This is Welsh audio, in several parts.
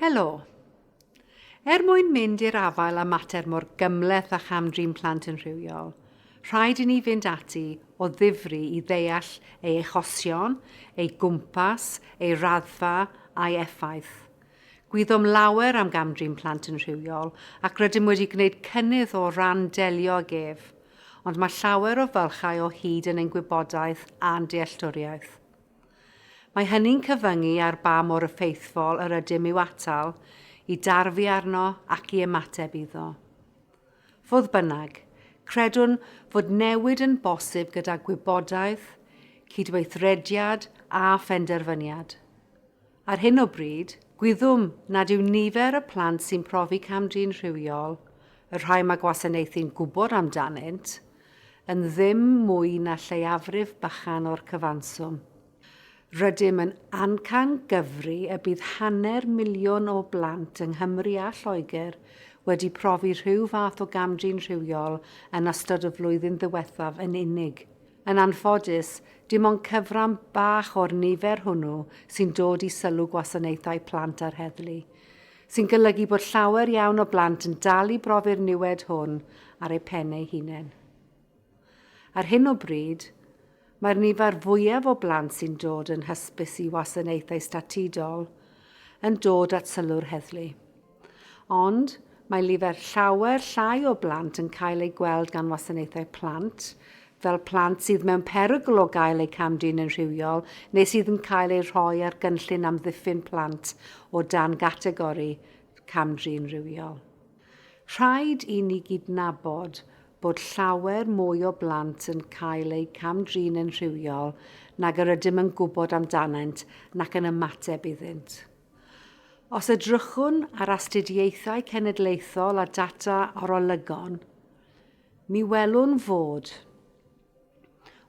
Helo! Er mwyn mynd i'r afael â mater mor gymhleth â cham-drin plant yn rhywiol, rhaid i ni fynd ati o ddifri i ddeall ei achosion, ei gwmpas, ei raddfa a'i effaith. Gwyddom lawer am gam-drin plant yn rhywiol ac rydym wedi gwneud cynnydd o ran delio ag ef, ond mae llawer o fylchau o hyd yn ein gwybodaeth a'n dealltwriaeth. Mae hynny'n cyfyngu ar ba mor effeithfol yr ydym i'w atal, i darfu arno ac i ymateb iddo. Fodd bynnag, credwn fod newid yn bosib gyda gwybodaeth, cydweithrediad a phenderfyniad. Ar hyn o bryd, gwyddom nad yw nifer y plant sy'n profi cam-drin rhywiol, y rhai mae gwasanaethu'n gwybod amdanynt, yn ddim mwy na lleiafrif bychan o'r cyfanswm. Rydym yn amcan gyfri y bydd hanner miliwn o blant yng Nghymru a Lloegr wedi profi rhyw fath o gam-drin rhywiol yn ystod y flwyddyn ddiwethaf yn unig. Yn anffodus, dim ond cyfran bach o'r nifer hwnnw sy'n dod i sylw gwasanaethau plant a'r heddlu, sy'n golygu bod llawer iawn o blant yn dal i brofi'r niwed hwn ar eu pen eu hunain. Ar hyn o bryd, mae'r nifer fwyaf o blant sy'n dod yn hysbys i wasanaethau statudol yn dod at sylw'r heddlu. Ond, mae lifer llawer llai o blant yn cael eu gweld gan wasanaethau plant, fel plant sydd mewn perygl o gael eu cam-drin yn rhywiol neu sydd yn cael eu rhoi ar gynllun amddiffyn plant o dan gategori cam-drin rhywiol. Rhaid i ni gydnabod bod llawer mwy o blant yn cael eu cam-drin yn rhywiol nag yr ydym yn gwybod amdanynt nac yn ymateb iddynt. Os edrychwn ar astudiaethau cenedlaethol a data arolygon, mi welwn fod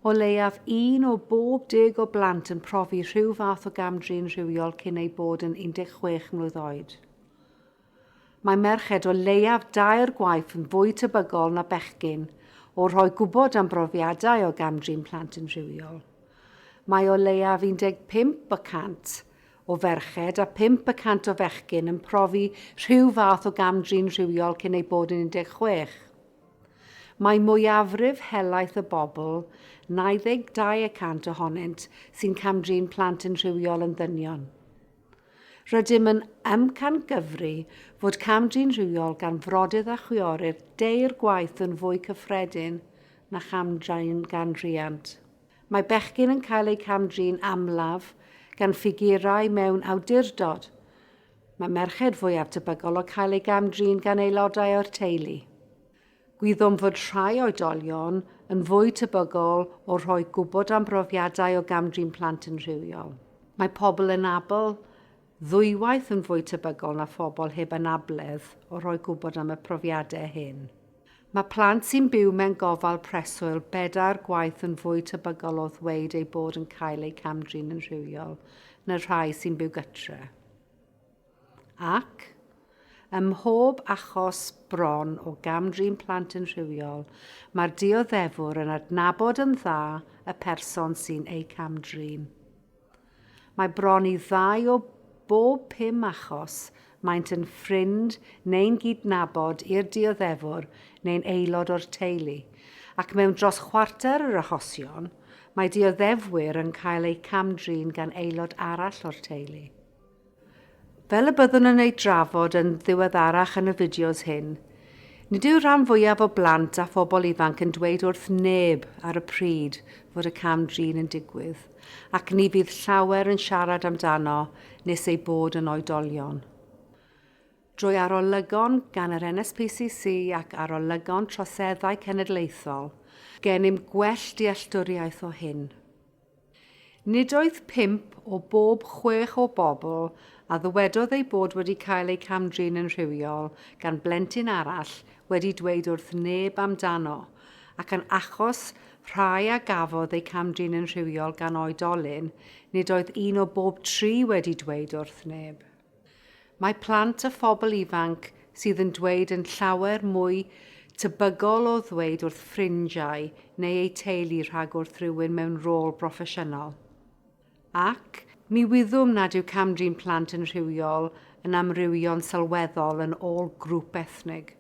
o leiaf un o bob deg o blant yn profi rhyw fath o gam-drin rhywiol cyn eu bod yn 16 mlwydd oed. Mae merched o leiaf dair gwaith yn fwy tebygol na bechgyn o rhoi gwybod am brofiadau o gam-drin plant yn rhywiol. Mae o leiaf 15 y cant o ferched a phump y cant o fechgyn yn profi rhyw fath o gam-drin rhywiol cyn eu bod yn 16. Mae mwyafrif helaeth y bobl, 92 y cant ohonynt, sy'n cam-drin plant yn rhywiol yn ddynion. Rydym yn amcangyfri fod cam-drin rhywiol gan frodyr a chwiorydd deirgwaith yn fwy cyffredin na cham-drin gan riant. Mae bechgyn yn cael eu cam-drin amlaf gan ffigurau mewn awdurdod. Mae merched fwyaf tebygol o cael eu gam-drin gan aelodau o'r teulu. Gwyddom fod rhai oedolion yn fwy tebygol o rhoi gwybod am brofiadau o gam-drin plant yn rhywiol. Mae pobl anabl ddwywaith yn fwy tebygol na phobl heb anabledd o rhoi gwybod am y profiadau hyn. Mae plant sy'n byw mewn gofal preswyl bedair gwaith yn fwy tebygol o ddweud eu bod yn cael eu cam-drin yn rhywiol na'r rhai sy'n byw gytre. Ac, ym mhob achos bron o gam-drin plant yn rhywiol, mae'r dioddefwr yn adnabod yn dda y person sy'n eu cam-drin. Mae bron i ddau o bob pum achos maent yn ffrind neu'n gydnabod i'r dioddefwr neu'n aelod o'r teulu, ac mewn dros chwarter yr achosion, mae dioddefwyr yn cael eu cam-drin gan aelod arall o'r teulu. Fel y byddwn yn eu drafod yn ddiweddarach yn y fideos hyn, nid yw'r rhan fwyaf o blant a phobl ifanc yn dweud wrth neb ar y pryd fod y cam-drin yn digwydd, ac ni fydd llawer yn siarad amdano nes eu bod yn oedolion. Drwy arolygon gan yr NSPCC ac arolygon troseddau cenedlaethol, gennym gwell dealltwriaeth o hyn. Nid oedd pump o bob chwech o bobl a ddywedodd eu bod wedi cael eu cam-drin yn rhywiol gan blentyn arall wedi dweud wrth neb amdano, ac yn achos rhai a gafodd eu cam-drin yn rhywiol gan oedolyn, nid oedd un o bob tri wedi dweud wrth neb. Mae plant a phobl ifanc sydd yn dweud yn llawer mwy tebygol o ddweud wrth ffrindiau neu eu teulu rhag wrth rywun mewn rôl broffesiynol. Ac, mi wyddwn nad yw cam-drin plant yn rhywiol yn amrywio'n sylweddol yn ôl grŵp ethnig,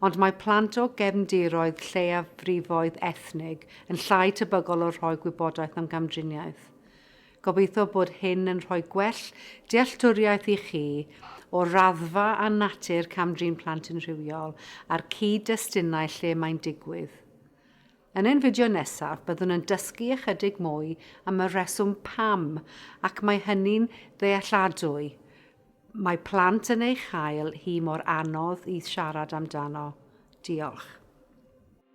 ond mae plant o gefndiroedd lleiafrifoedd ethnig yn llai tebygol o rhoi gwybodaeth am gamdriniaeth. Gobeithio bod hyn yn rhoi gwell dealltwriaeth i chi o'r raddfa a natur cam-drin plant yn rhywiol a'r cyd-destunau lle mae'n digwydd. Yn ein fideo nesaf, byddwn yn dysgu ychydig mwy am y rheswm pam, ac mae hynny'n ddealladwy, mae plant yn ei chael hi mor anodd i siarad amdano. Diolch.